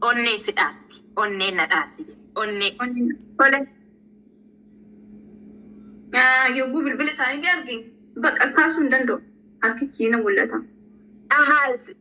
Onnee si dhaatti. Onnee na dhaatti. Onnee. Tole. Ah, Yogguu bilbila isaanii arge bakka kaasuu hin danda'u. Harki kiina mul'ata. Ahaaz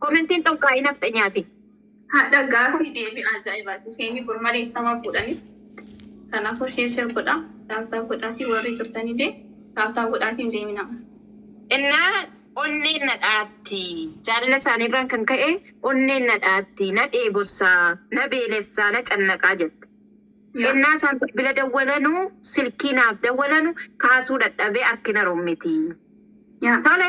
Komentiin xunqaa'ii nafxenyaati. Hadha gaaffi deebi ajaa'ibati keeni bor mali ittama fuudhani kanafu share share godha tap tap godhaafi warri jirtanile tap tap godhaafi hin deemina. Innaa onneen na dhaatti. Jaalala isaanii irraan kan ka'e onneen na dhaatti, na dheebossa, na beelessa, na cannaqa jette. Ennaa isaan bilbila dawwalanu, silkii naaf dawwalanu kaasuu dhadhabee akki na rommiti. Tole!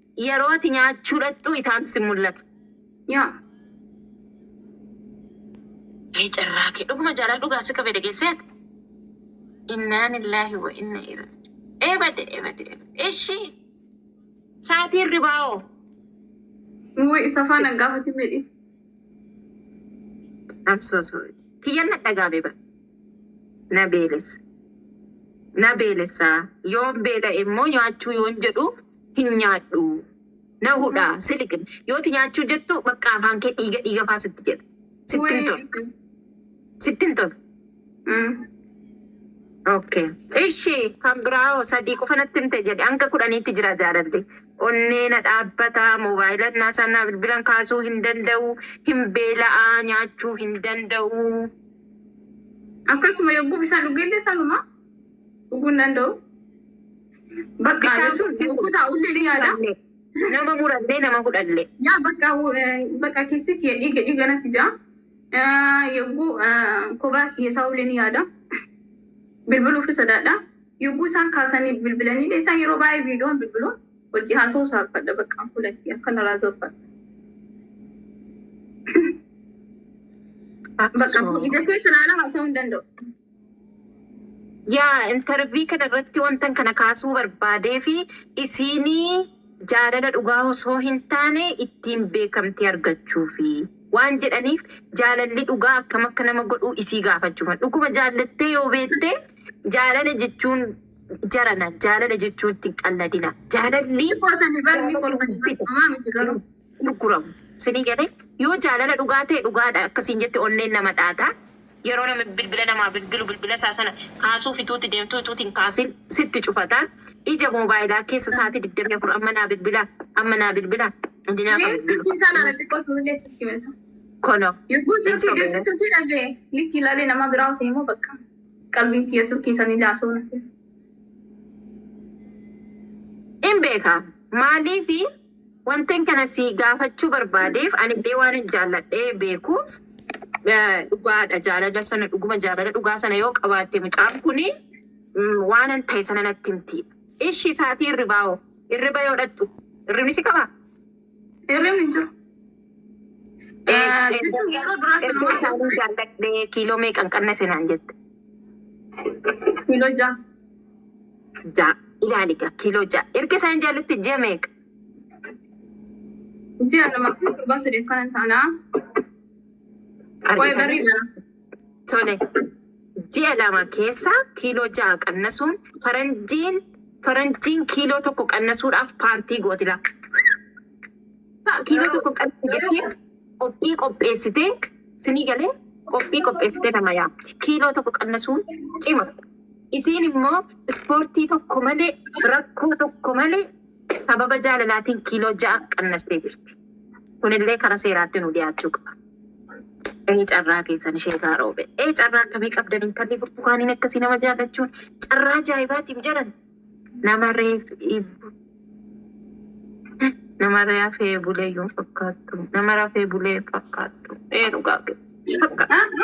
Yeroo ati nyaachuu dhaqxu isaantu si mul'ata. Yaa. Mee carraa kee dhuguma jaalala dhugaa si qabee dhageessee ati. Innaanillaahi wa inna ira. Ebade ebade ebade ishi. Saatii hirribaa hoo? Wly isa faana hin gaafatin mee dhiisi. I'm so sorry. Kiyyan na dhagaame bar. Na beelessa. Na beelessa. Yoon beela'e immoo nyaachuu yoon jedhu. hin nyaadhu na hudha siliq yooti nyaachuu jettu baqqaa afaan kee dhiiga dhiiga faa sitti jedha sitti hin tolu sitti hin tolu okay ishi kan biraa hoo sadii qofa natti himte jedhe hanga kudhaniitti jira jaalalli onnee na dhaabbata moobaayila naa sana bilbilan kaasuu hin danda'u hin beela'a nyaachuu hin danda'u Akkasuma yogguu bishaan dhugeellee sanuma dhuguu hin danda'u. Bakka Yaa isaan Yesuus yogguu taa'ullee si ni yaada. muranne, nama murannee nama fudhanne. Yaa bakka bakka keessi kiyya dhiiga dhiiga natti jira. Yogguu kophaa kiyya taa'ullee ni yaada. Bilbiluuf sodaadha. Yogguu isaan kaasanii bilbilanii isaan yeroo baay'ee viidiyoon bilbilu hojii haasa'uu saaffadha bakka fuulatti akka narraa zorfadha. Bakka ija keessa ilaalaa haasa'uu hin danda'u. Yaa intervii kana irratti wantan kana kaasuu barbaadeefi isiini jaalala dhugaa osoo hin taane ittiin beekamtii argachuufi waan jedhaniif jaalalli dhugaa akkam akka nama godhuu isii gaafachuufan dhuguma jaallattee yoo beekte jaalala jechuun jarana jaalala jechuun itti hin qalladina jaalalli gurguramu isinii galee yoo jaalala dhugaa ta'e dhugaadha akka siin jette onneen nama dhaata. Yeroo namni bilbila namaa bilbilu bilbila isaa sana kaasuuf ituu itti deemtuu ituu itti hin kaasiin sitti cufata. Ija moobaayilaa keessa sa'aatii 24 amma naa bilbila amma naa bilbila inni naa kan bilbilu. Kono. Yogguu silkii dhirti silkii dhagee likki ilaalee namaa biraa hafee moo bakka qalbiin tiyya silkii san ilaa soo nafee. In beeka maaliifi Wantin kana sii gaafachuu barbaadeef anillee waanan jaalladhee beekuuf dhugaadha jaalala sana dhuguma jaalala dhugaa sana yoo qabaatte mucaan kuni waanan ta'e sana natti himti. Ishi saatii irribaa hoo? Irriba yoo dhaqxu irribni si qabaa? Hirribni hin jiru. Jechuun yeroo duraa Erga sanumaa isaanin jaalladhe kiiloo meeqan qannase naan jette. kiiloo ja'a. ja'a ilaali egaa kiiloo ja'a erga isaan jaalitti ji'a meeqa? Ji'a lama fi torban saddeet kanan taana. Waa'ee barrii bara. Tole ji'a lama keessa kiiloo ja'a qannasuun faranjiin faranjiin kiiloo tokko qannasuudhaaf paartii gooti lafa. Kiiloo tokko qannasuu jettee qophii qopheessitee sinii galee qophii qopheessitee nama yaamti. Kiiloo tokko qannasuun cima. Isiin immoo ispoortii tokko malee, rakkoo tokko malee sababa jaalalaatiin kiiloo 6 qannastee jirti. Kun illee kara seeraatti nuu dhiyaachuu qaba. Ee carraa keessan sheekaa Roobee. Ee carraa akkamii qabdan intalli burtukaaniin akkasii nama jaallachuun carraa ajaa'ibaatiim jedhan. Nama reef iibbu. Nama rafee bulee yoo fakkaattu. Nama rafee bulee fakkaattu. Ee dhugaa keessa. Fakkaattu.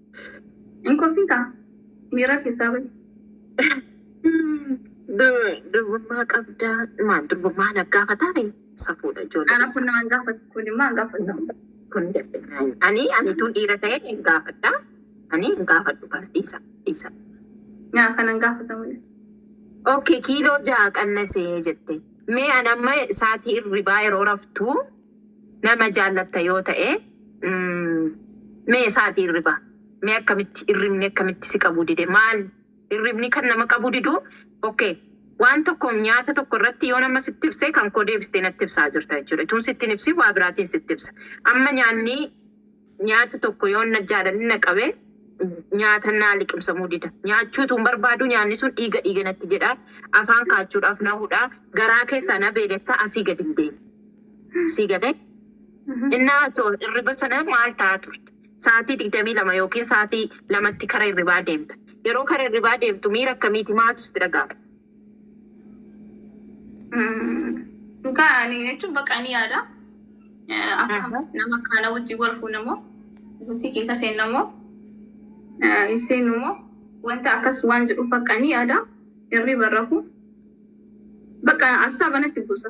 Hin kolfiitaa? Miira keessaa bahi. Durbummaa qabdaa maal durbummaa na gaafataani safuudha ijoollee. Ana kun nama hin gaafatu. Kun immoo hin gaafatu. Kun ani ani tun dhiira ta'e hin gaafadha. Ani hin gaafadhu kana dhiisa dhiisa. Nyaa kana hin gaafatamu. Okay kiiloo ja'a qannasee jette. Mee an amma saatii irribaa yeroo raftuu Nama jaallatta yoo ta'e mee isaati irriba mee akkamitti irribni akkamitti si qabuu dide maal irribni kan nama qabuu didu ok waan tokko nyaata tokko irratti yoo nama sitti ibse kan koo deebistee natti ibsaa jirta jechuudha tun sitti hin ibsin waa biraatiin sitti ibsa amma nyaanni Nyaati tokko yoon na jaalanni na qabe, nyaata naa liqimsamuu dida. Nyaachuu utuun barbaaduu nyaanni sun dhiiga dhiiga natti jedha, afaan kaachuudhaaf na hudha, garaa keessaa na beelessa, asii gad hin deemu. Sii galee? Innaa ati hirriba sana maal ta'aa turte? Sa'aatii 22 ykn sa'aatii 2tti kara hirribaa deemta. Yeroo kara hirribaa deemtu miira akkamiiti? Maaltu sitti dhaga'ama? Dhugaa ani jechuun bakka ani yaada. Akka nama kaana wajjin wal fuunamoo bultii keessa seennamoo hin seennumoo wanta akkas waan jedhu bakka ani yaada. Irri barrafu bakka asxaa banatti buusa.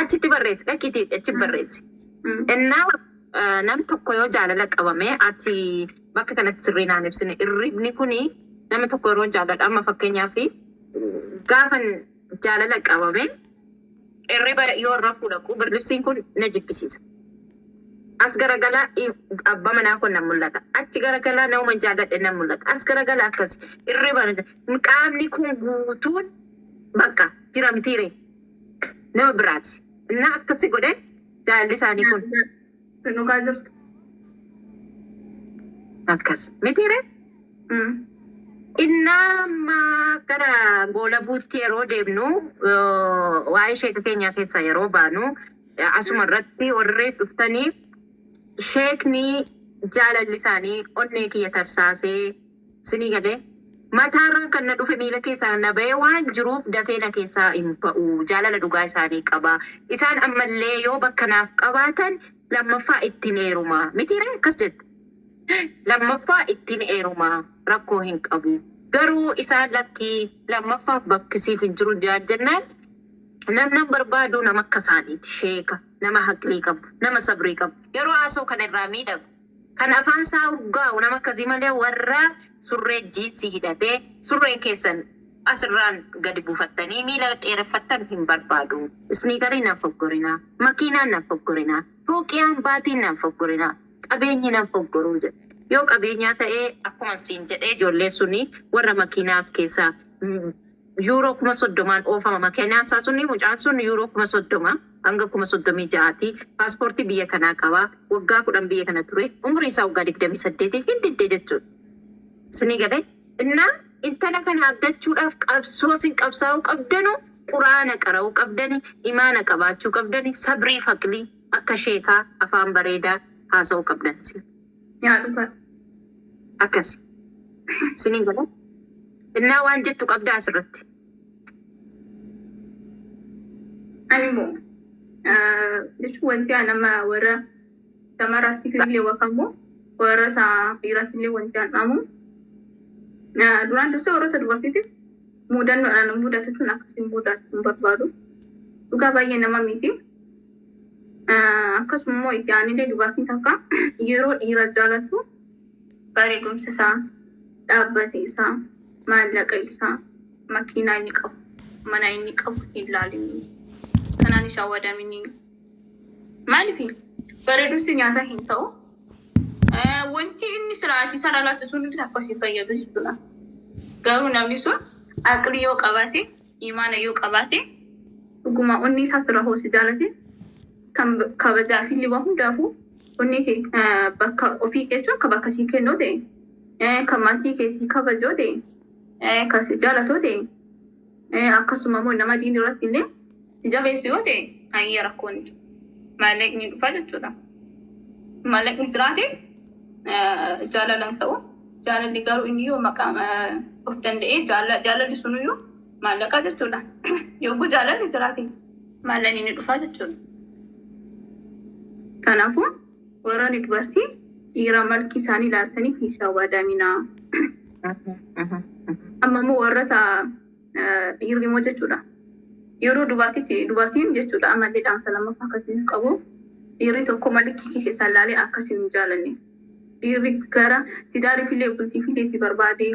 Achitti barreessi dhaqiitii achi barreessi. Ennaa eh, nam tokko yoo jaalala qabame ati bakka kanatti sirrii naan ibsine irribni kuni nama tokko yeroo jaalladha amma fakkeenyaaf gaafan jaalala qabame irriba yoo irra fuudhaqu birribsiin kun na jibbisiisa. As garagalaa i- abbaa manaa kun nan mul'ata. Achi garagalaa nama jaalladhe nan mul'ata. As garagalaa akkas irriba na jib- qaamni kun guutuun Baqqa jira mitii ree nama biraati innaa akkasi godhe jaalalli isaanii kun. Hin dhugaa jirtu. Akkas mitii ree innaa amma gara goolabuutti yeroo deemnu waa'ee sheeka keenyaa keessaa yeroo baanu asuma irratti warri reef dhuftanii sheekni jaalalli isaanii onnee kiyya tarsaasee. Sinii galee? Mataarraan kan na dhufe miila keessaa na ba'ee waan jiruuf dafee na keessaa hin ba'u. Jaalala dhugaa isaanii qaba. Isaan ammallee yoo bakka naaf qabaatan lammaffaa ittin heeruma. Mitiiree? Akkas jette. Lammaffaa ittin heeruma. Rakkoo hin qabu. Garuu isaan lakki lammaffaaf bakki siif hin jiru jedhan jennaan namnan barbaadu nama akka isaaniiti. Sheeka, nama haqlii qabu, nama sabrii qabu. Yeroo haasa'u kana irraa miidhagu. Kan afaan saa urgaa'u nama akkasii malee warra surree jiinsii hidhatee surreen keessan as irraan gadi buufattanii miila dheereffattan hin barbaadu. Isniikariin nan foggorina, makiinaan nan foggorina, fooqiyaan, baatiin nan foggorina, qabeenyi nan foggoruu jedhe. Yoo qabeenyaa ta'ee akkuman siin jedhee ijoolleen suni warra makiinaa as keessaa Yuuroo kuma soddomaan oofama makenaan isaa suni mucaan sun yuuroo kuma soddoma hanga kuma soddomii ja'aati paaspoortii biyya kanaa qaba waggaa kudhan biyya kana ture umuriin isaa waggaa digdamii saddeeti hin didde jechuudha isinii galee innaa intala kana argachuudhaaf qabsoo isin qabsaa'uu qabdanu quraana qara'uu qabdani imaana qabaachuu qabdani sabriif haqlii akka sheekaa afaan bareedaa haasa'uu qabdan isin Yaa dhugaa akkasi sinin gala innaa waan jettu qabdaa asirratti. Ani immoo eh, jechuun wanti ani amma warra shamarraatti illee wakamu warra ta- dhiiraatti illee wanti an dhaamu eh, duraan dursee warroota dubartiitiif muudannoodhaan mudatu tun akkasiin mudatu hin barbaadu. Dhugaa baay'ee nama miti. Akkasuma immoo ijaanillee dubartiin takka yeroo dhiira jaalatu bareedumsa isaa, dhaabbata isaa, maallaqa isaa, makiinaa inni qabu, mana inni qabu hin laalini. Kanaan ishaa wadamini. Maaliif bareedumsi nyaata hin ta'u. Wanti inni siraatii sana laatu sun hundi takka si fayyadu jechuudha. Garuu namni sun aqlii yoo qabaate iimaana yoo qabaate dhuguma onnee isaa sirraa hoo si jaalate kan kabajaa fi liwa hundaafuu onnee kee bakka ofii jechuun kan bakka sii kennoo ta'e kan maatii kee sii kabajoo ta'e kan si jaalatoo ta'e akkasuma immoo nama diin irratti illee si jabeessu yoo ta'e hayyee rakkoon hin jiru. Maallaqni dhufa jechuudha. Maallaqni jiraate jaalala hin ta'u. Jaalalli garuu inni yoo maqaa of danda'ee jaalalli sunuyyuu maallaqaa jechuudha. Yogguu jaalalli jiraate maallaqni ni dhufaa jechuudha. Kanaafuu warroonni dubartii dhiira malki isaanii ilaaltaniif hin shawwaadaminaa. Amma immoo warroota dhiirri immoo jechuudha. Yeroo dubartiitti dubartiin jechuudha ammallee dhaamsa lammaffaa akka isiniif qabu dhiirri tokko malikii kee keessaa ilaalee akka isin hin jaalanne dhiirri gara tidaariifillee bultiifillee si barbaade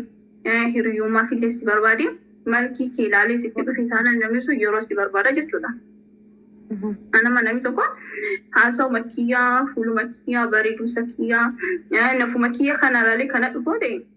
hiriyummaafillee si barbaade malikii kee ilaalee sitti dhufe taanaan namni sun yeroo si barbaada jechuudha. Anama namni tokko haasawuma kiyyaa fuuluma kiyyaa bareedumsa kiyyaa nafuma kiyya kanarraalee kana dhufoo ta'e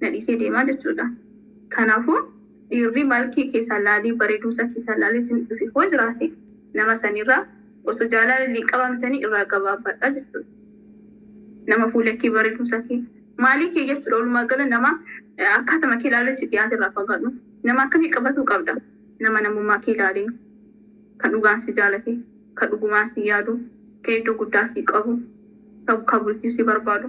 na dhiisee deema jechuudha. Kanaafuu dhiirri malkii keessan laalee bareedumsa keessan laalee isin dhufe hoo jiraate nama sanirraa osoo jaalala illee qabamtanii irraa gabaabbadha jechuudha. Nama fuula kee bareedumsa kee maalii kee jechuudha walumaa gala nama akkaatama kee laalee si dhiyaate irraa fagaadhu. Nama akkamii qabatuu qabda? Nama namummaa kee laalee kan dhugaan si jaalate, kan dhugumaan si yaadu, kan iddoo guddaa si qabu, kan bultii si barbaadu.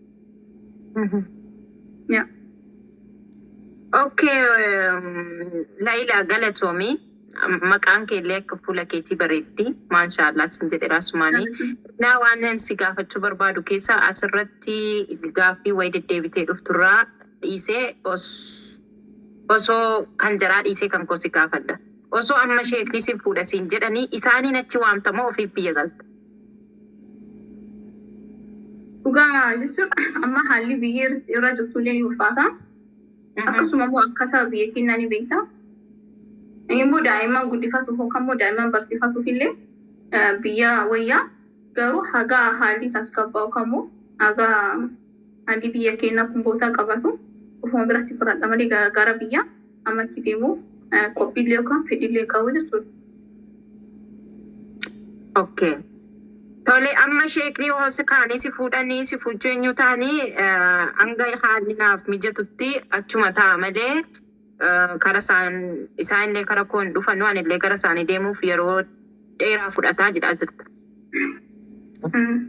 Yeah. Okay, um, Laila Galatomi. Um, Maqaan kee illee akka fuula keetii bareeddi. Maashaallah sin jedhe raasumaani. Naa waan ani si gaafachuu barbaadu keessa asirratti gaaffii wayi deddeebitee dhufturraa dhiisee os osoo kan jaraa dhiisee kan koo si gaafadha. Osoo amma sheekni si fuudha siin jedhanii isaaniin achi waamtamoo ofiif biyya galta. Dhugaa jechuun amma haalli biyyi irra jirtu illee ni ulfaata. Akkasuma immoo akkaataa biyya keenyaa ni beekta. Immoo daa'imman guddifatuuf yookaan immoo daa'imman barsiifatuuf illee eh, biyya wayyaa garuu hagaa haalli tasgabbaa'u yookaan immoo hagaa Halli biyya keenna kun bootaa qabaatu ufuma biratti fudhadha malee gara biyya amatti deemuuf qophiillee yookaan fedhiillee hin qabu jechuudha. Ok. Tole amma sheekni yoo si kaanii si fuudhanii si fujjeenyu taanii hanga haalli naaf mijatutti achuma ta'a malee Kara isaan, isaan illee kara koo hin dhufanu, ani illee gara isaanii deemuuf yeroo dheeraa fudhata jedhaa jirta.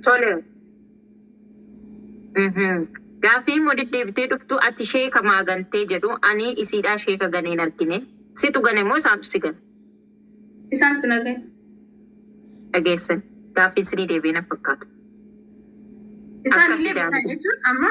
Tole. Mhm. Gaaffii immoo deddeebitee dhuftu ati sheeka maa gantee jedhu ani isiidhaa sheeka ganee hin argine. Situ gane moo isaantu si gane? Isaan tun hagee. Dhageessan. Gaaffiin sinii deebi'ee na fakkaatu. Isaan Akkasii illee beekan daandii. jechuun amma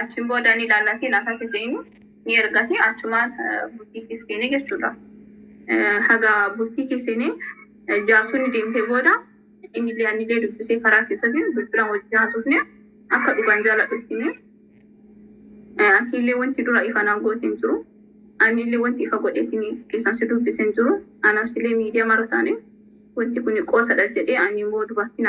Achiin booda ni laallatiin akka akka jeeni ni ergati achumaan bultii keessanii jechuudha. Haga bultii keessanii jaarsonni deemtee booda inni illee ani illee dubbisee karaa keessatti bilbilaan wajjin haasofne akka dhugaan jaaladhu hime. Ati illee wanti dura ifa naa goote hin jiru. Ani illee wanti ifa godheetiin keessaan si dubbise hin jiru. Anaaf illee miidiyaa mara taane wanti kun qoosadha jedhee ani immoo dubartiin